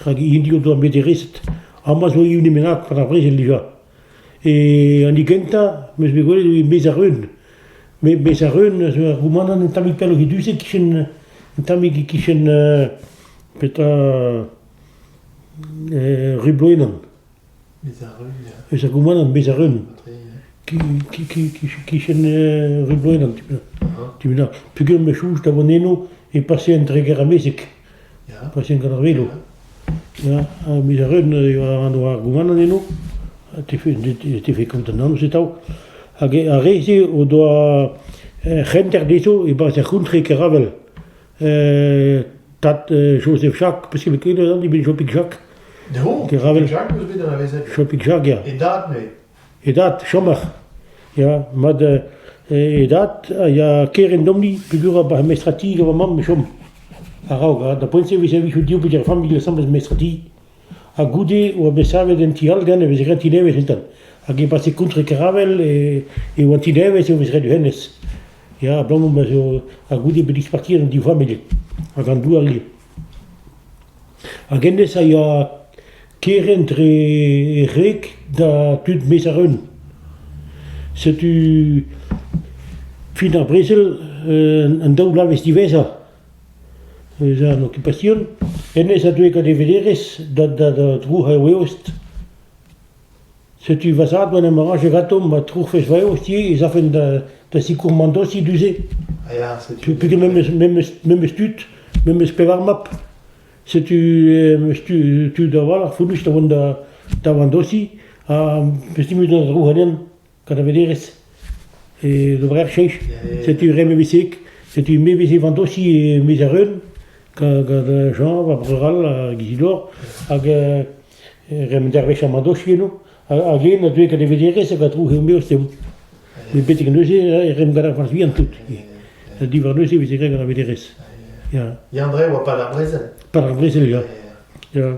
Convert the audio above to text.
Rak hini o doa bet e rest. Hemañ zo hini bennak gant ar brezel dija. E an hini gentañ, 'meus bet gwelet eo Maes ar Reun. Me Maes ar Reun zo ur goumanant un tammig pelloc'h e du-se, kichen un tammig e-kichen petra... e Rubloenan. Eus ar goumant am bez a-reun. Kichen rubloed an ti-benn. Peogwir ma soñj da vont eno e pasean dre Gêr-Amezeg. Pasean gant ar velo. Ya, ha bez a-reun eo an oa ar goumant eno. Ha te fe kontant atav. Hag ar re-se o doa c'henter dezho e-barzh ar c'hontre Keravel. tad Joseph Jacques, peseurt ket an eben Jopik Jacques. No, Jacques eus bet anavezet. Jopik Jacques, ya. E dad, me. E dad, chomach. Ya, mad e dad a ya keren domni, pegur a bar mestrati gant ma mam, chom. Araog, da poent se, vis a vis diou peter familh, le semble mestrati. ha goude e oa bet savet un ti-hollgan e vez graet ti-devezh entan. Hag e pase kontre Karavel e, e oa ti-devezh e vez graet hennezh. Ya, abalamour ma zo ha goude bet disparti an div familh hag an douar ivez. Hag hennezh a ya kerent re rek da tud mes ar un. Setu fin ar brezel, euh, an daou bloavezh diwezhañ Ez a an okipasion. Hennezh a deu gant e veleerez da da da drouc'h ar weost. Setu va zad ma 'n em raje gantañ ma troufes va eost ivez ez afen da da sikour Mandosi du-se. Ah ya, setu... Peget memes memes memes tud, memes pevar mab. Setu em eus tud a-walc'h fonnus da vont da da Mandosi ha 'm eus timezet an drouc'henn. Kanavelerez, e oberer cheñch. Setu re mevisik, setu mevizik an dosi e miz ar Eun, gant Jean, va breur all, hag Isidor, hag re men dervezh an dosi eno. Hag yen a deuet gant e vederez hag a dro he meo sev. Met betek neuze e rem gant ar vant vihan tout. Diwar neuze e veze graet gant ar vederez. Ya. Yann-Dre oa pas ar brezel. Pas ar brezel, ya. Ya.